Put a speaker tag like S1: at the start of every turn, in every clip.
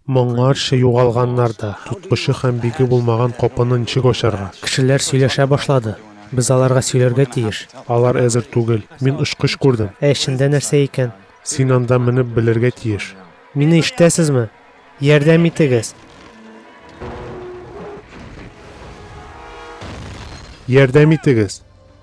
S1: Моңарчы югалганнар да, тоткычы һәм биге булмаган капыны ничек ачарга? Кешеләр сөйләшә башлады. Без аларга сөйләргә тиеш. Алар әзер түгел. Мин очкыч күрдем. Ә эчендә нәрсә икән? Син анда менеп белергә тиеш. Мине ишетәсезме? Ярдәм итегез! Ярдәм итегез!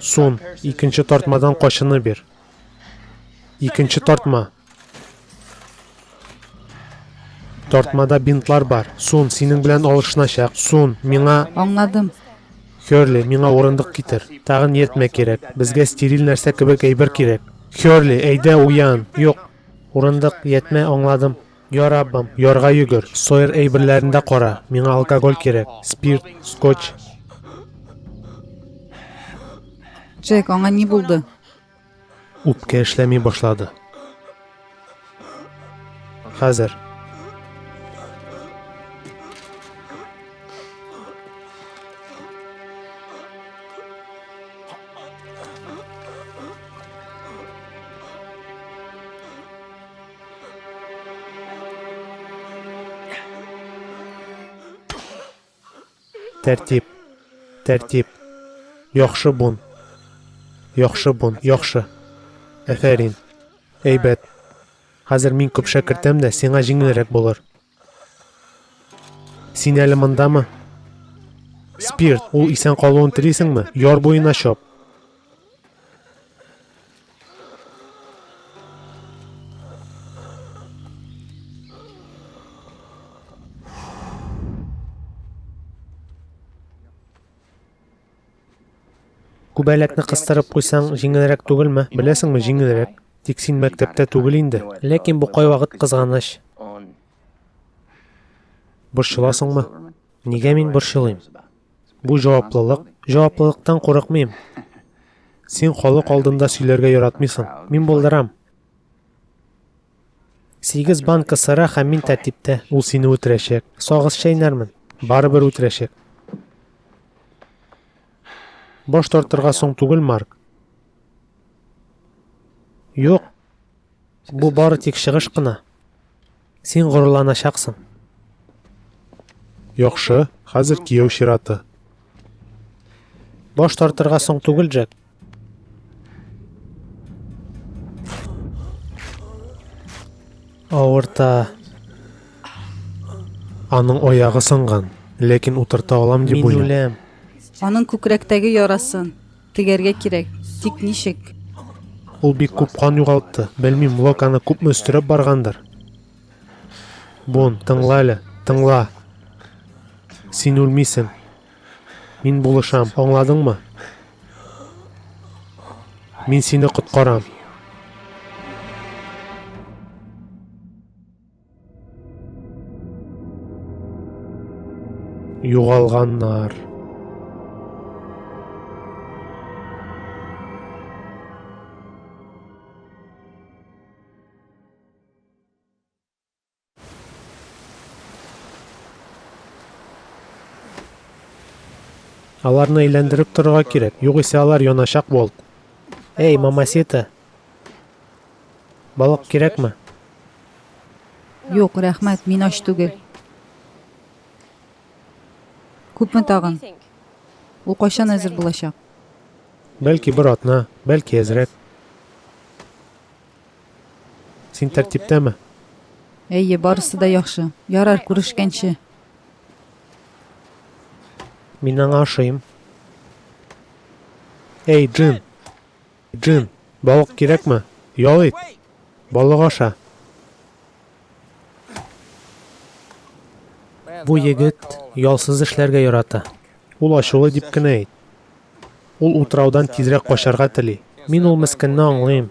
S1: Сон, икенче тартмадан качыны бир. Икенче тартма. Тартмада бинтлар бар. Сон, синең белән алышыначак. Сон, миңа... Аңладым. Херли, миңа урындык китер. Тагын ниятмә кирәк. Безгә стериль нәрсә кебек әйбер кирәк. Херли, әйдә уян. Юк. Урындык, ятмә, аңладым. Я Раббым, ярга йөгер, сойер әйберләрен дә кара, миңа алкоголь кирәк, спирт, скотч. Джек, аңа ни булды? Үпкә эшләми башлады. Хәзер. Тәртип. Тәртип. Яхшы бун. Яхшы бун. Яхшы. Әфәрин. Әйбәт. Хәзер мин күп шәкертәм дә, сиңа җиңелрәк булыр. Син әле мондамы? Спирт, ул исән калуын телисеңме? Яр буена чап. Күбәләкне кыстырып куйсаң, җиңелрәк түгелме? Беләсеңме, җиңелрәк. Тик син мәктәптә түгел инде. Ләкин бу кайвакыт кызганыч. Борчыласыңмы? Нигә мин борчылыйм? Бу җаваплылык. Җаваплылыктан курыкмыйм. Син халык алдында сөйләргә яратмыйсың. Мин булдырам. Сигез банка сыра һәм мин тәртиптә. Ул сине үтерәчәк. Сагыз чәйнәрмен. Барыбер үтерәчәк. Баш тартырга соң түгел, Марк. Юк. Бу бары тик чыгыш кына. Син горурланачаксың. Яхшы, хәзер кияү чираты. Баш тартырга соң түгел, Джек. Авырта. Аның оягы сынган, ләкин утырта алам дип уйлый. Мин үләм. Аның күкрәктәге ярасын тегәргә кирәк. Тик ничек? Ул бик күп кан югалтты. Белмим, Лок аны күпме өстерәп баргандыр. Бун, тыңла әле, тыңла. Син үлмисең. Мин булышам, аңладыңмы? Мин сине коткарам. Югалганнар. Аларны әйләндереп торырга кирәк, югыйсә алар яначак болт. Эй, мамасита! Балык кирәкме? Юк, рәхмәт, мин ач түгел. Күпме тагын? Ул кайчан әзер булачак? Бәлки бер атна, бәлки әзрәк. Син тәртиптәме? Әйе, барысы да яхшы. Ярар, күрешкәнче. Мин аңа ошыйм. Эй, Джин! Джин, балык кирәкме? Ял ит! Балык аша! Бу егет ялсыз эшләргә ярата. Ул ачулы дип кенә әйт. Ул утраудан тизрәк качарга тели. Мин ул мескенне аңлыйм.